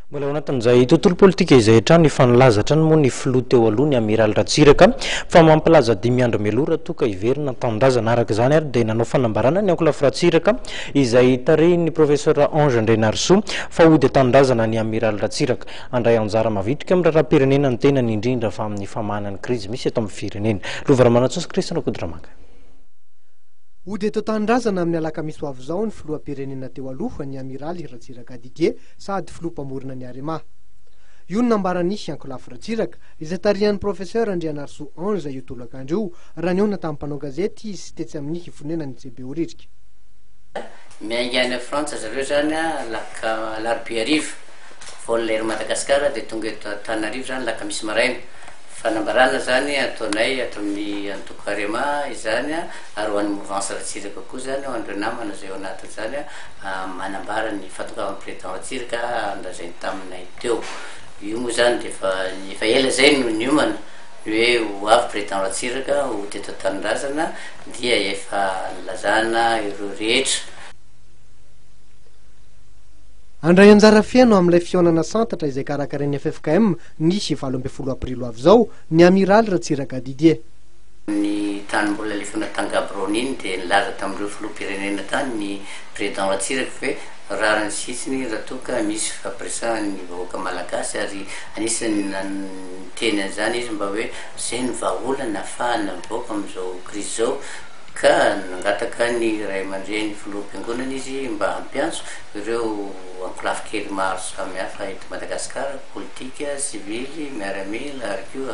Mbola ao anatin'izay tontolo politika izay hatrany efa nilaza hatrany moa ny filoha teo aloha ny Amiraly Ratsiraka fa mampilaza dimy andro mialoha raha toa ka hiverina an-tanindrazana. Araka izany ary dia nanao fanambarana ny ankolafy Ratsiraka izay tarihin'ny Professor Ange Andrianarisoa fa hody an-tanindrazana ny Amiraly Ratsiraka handray anjara mavitrika amin'ny raharaham-pirenena ny tenany indrindra fa amin'ny famahana ny krizy misy eto amin'ny firenena. Lova Ramanantsoa sy Christian Rakotodramaga. Hody eto an-tanindrazana amin'ny alakamisy ho avy izao ny filoham-pirenena teo aloha ny Amiraly Ratsiraka Didier sady filoha mpamorona ny Arema. Io no nambaran'i Ankolafy Ratsiraka, izay tarihan'ny Professeur Andrianarisoa Ange io tolakandro io, raha nihaona tamin'ny mpanao gazety izy tetsy amin'ny fonenan'i Behoririka. Miainga any Frantsa zareo izany alak alarobia hariva, vol Air Madagascar dia tonga eto Antananarivo izany alakamisy maraina. Fanambarana izany ataonay ato amin'ny antoko Arema izany. Ary ho an'ny mouvance Ratsiraka koa izany hoan'ireo namana izay ao anatin'izany manambara ny fahatongavan'ny président Ratsiraka andrazainy taminay teo. Io moa izany dia efa efa ela izay no niomana ny hoe ho avy président Ratsiraka ho teto an-tanindrazana dia efa nilazana ireo rehetra. Handray anjara feno amin'ilay fihaonana santatra izay karakarain'ny ffkm ny valo ambin'ny folo aprily ho avy izao ny Amiraly Ratsiraka Didier. Tamin'ny tany mbola lefona tany Gaborone iny dia nilaza tamin'ireo filoham-pirenena tany ny Président Ratsiraka hoe rariny sy hitsiny raha toa ka misy fapiresahany ny vahoaka malagasy ary anisan'ny niteny an'izany izy mba hoe izay no vahaolana hahafahana mivoaka amin'izao krizy izao ka nangataka ny ray aman-dreny filoham-piangonana izy mba hampiantso ireo ankolafy kely maro samihafa eto Madagasikara, politika, sivily, miaramila ary koa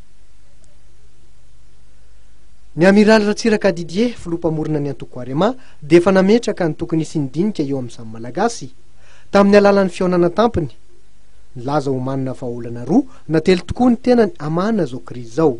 Ny Amiraly Ratsiraka Didier, filoha mpamorona ny antoko Arema, dia efa nametraka ny tokony hisian'ny dinika eo amin'ny samy Malagasy, tamin'ny alalan'ny fihaonana tampony. Nilaza omanina fa olana roa na telo tokoa ny tenany hamahana izao krizy izao.